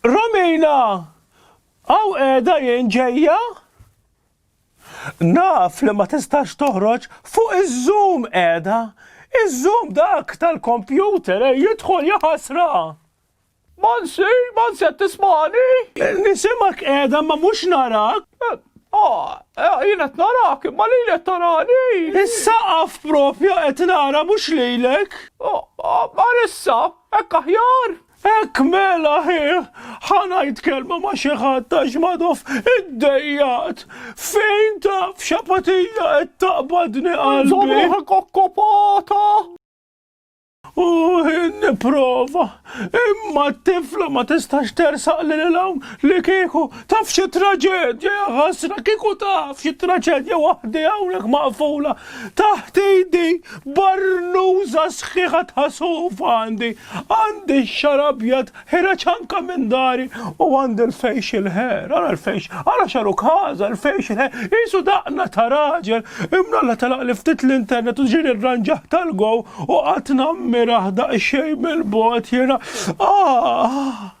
Romina! Hawn qiegħda jien ġejja! Naf li ma tistax toħroġ fuq iz-zoom qiegħda! Iz-zoom dak tal-kompjuter ejj idħol jaħasra! Mansi, Mansi qed tismagħni? Nisimgħek qiegħda imma mhux narak! Ah, eh, jien qed narak, imma lili qed tarani. Is-saqaf propju qed nara mhux lilek. Oh, oh, Marissa, hekk aħjar. Hekk mela hi, ħa ngħid kelma ma' xi ħadd għax Madoff iddejjaqt. Fejn taf x'apatija qed taqbadni qalbi. Żomm ruħek okkupata! U nipprova, imma t-tifla ma tistax tersaq li l-hawn li kieku taf xi traġedja ħasra, kieku taf xi traġedja waħdi hawnhekk maqfula Taħt idi barnuża sħiħa ta' sofa għandi, għandi x-xagħar abjad ħira ċanka minn dari u għandi l-facial hair, ara l-fejx, ara xaru każa, l-facial hair, qisu daqna ta' raġel, imnalla telaqli ftit l-internet u ġieli rranġah tal-gow u qgħadt nammirah daqsxejn mill-bogħod jiena, aah!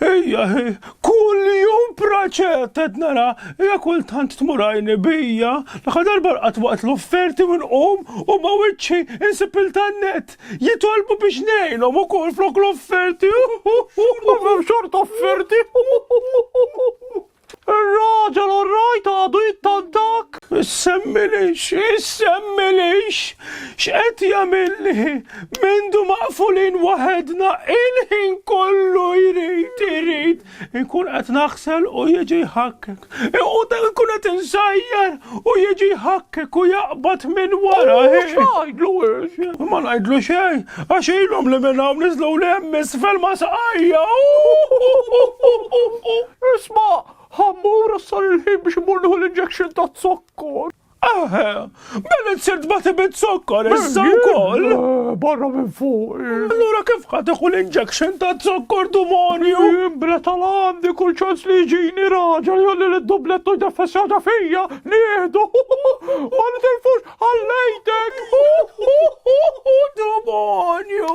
Ija, kull jum praċet qed nara, ija kultant tmurajni bija, l-aħħar darba rqat waqt l-offerti minn qum u ma wiċċi insib il-tannet. Jitolbu biex ngħinhom ukoll flok l-offerti. Ma xort offerti. Ir-raġel orrajt għadu jittantak. Issemmilix, issemmilix, x'qed jagħmilli, mindu maqfulin waħedna il-ħin kollu jrid, jrid, inkun qed naħsel u jiġi jħakkek. U nkun qed insajjar u jiġi jħakkek u jaqbad minn wara. X'għidlu Ma ngħidlu xejn, għax ilhom li minn hawn niżlu li hemm isfel ma saqajja. Isma, ħammur sar il-ħin biex imur nieħu l-injection ta' zokkor. Eħe, mela sirt ma tibit zokkor, issa wkoll. Barra minn fuq. Allura kif ħad iħu l-injection ta' zokkor dumonju? Imbra tal-għandi kull ċans li ġini raġa li għalli l-dubletto jdeffessjata fija, nieħdu. Ma nitilfux għallejtek. Dumonju.